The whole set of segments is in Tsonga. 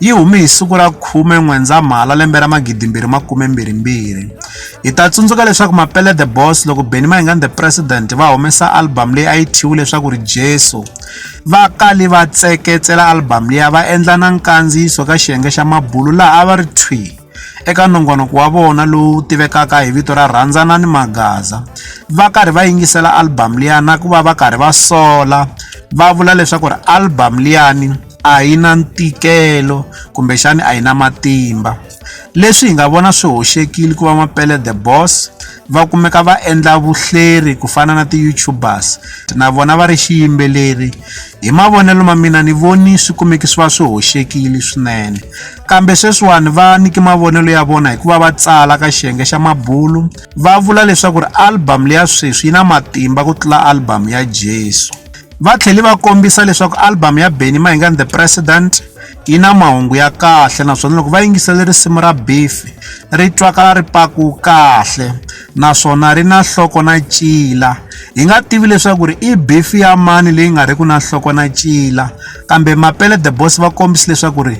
yi hume hi siku ra 10 N'wendzamhala lembe ra 2022. Hi ta tsundzuka leswaku Mapele The Boss loko Benny Mayengani The President va humesa album leyi a yi thyiwe leswaku ri Jesu, va kale va tseketsela album liya va endla na nkandziyiso ka xiyenge xa Mabulu laha a va ri thwi eka nongonoko wa vona lowu tivekaka hi vito ra Rhandzanani Magaza va karhi va yingisela album liya na ku va va karhi va sola va vula leswaku ri album liyani a yi na ntikelo kumbexani a yi na matimba leswi hi nga vona swi hoxekile ku va mapele the boss va kumeka va endla vuhleri ku fana na ti-youtubers na vona va ri xiyimbeleri hi mavonelo ma mina ni voni swi kumeki swi va swi hoxekile swinene kambe sweswiwani va niki mavonelo ya vona hikuva va tsala ka xiyenge xa mabulu va vula leswaku ri album leya sweswi yi na matimba ku tlula album ya jesu Va tlhele va kombisa leswaku album ya Benny Mahinga and the President yi na mahungu ya kahle naswona loko va yingisele risimu ra Beef ri twakala ri paku kahle naswona ri na nhloko na cila hi nga tivi leswaku ri i beef ya mani leyi nga riki na nhloko na cila kambe Mapele the Boss va kombisa leswaku ri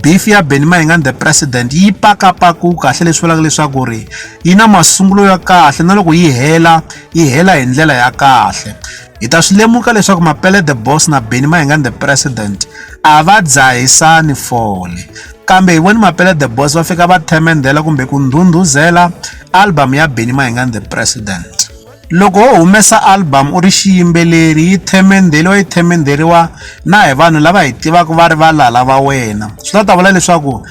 beef ya Benny Mahinga and the President yi pakapaku kahle leswi vulaka leswaku ri yi na masungulo ya kahle na loko yi hela yi hela hi ndlela ya kahle Hi ta swi lemuka leswaku Mapele the Boss na Benny Mayengani the President a va dzahisani fole kambe hi voni Mapele the Boss va fika va themendhela kumbe ku ndhundhuzela album ya Benny Mayengani the President loko ho humesa album u ri xiyimbeleri yi themendheriwa yi themendheriwa na hi vanhu lava hi tivaka va ri valala va wena swi ta ta vula leswaku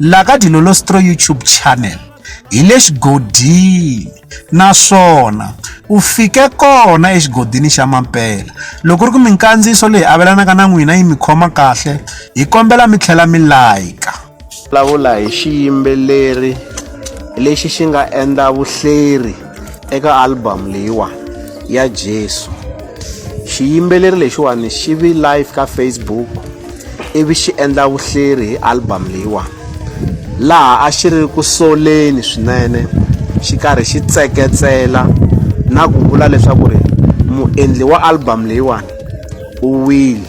la ka dilolostro youtube channel hi le xigodini naswona u fike kona exigodini xa mampela loko ri ku minkandziyiso leyi avelanaka na n'wina yi mi khoma kahle hi kombela mi tlhela mi layika vulavula hi xiyimbeleri lexi xi nga endla vuhleri eka album leyiwa ya Jesu xiyimbeleri lexiwani xi vi live ka Facebook ivi xi endla vuhleri hi album leyiwa laha a xi ri ku soleni swinene xi karhi xi tseketsela na ku vula leswaku ri muendli wa album leyiwani u wile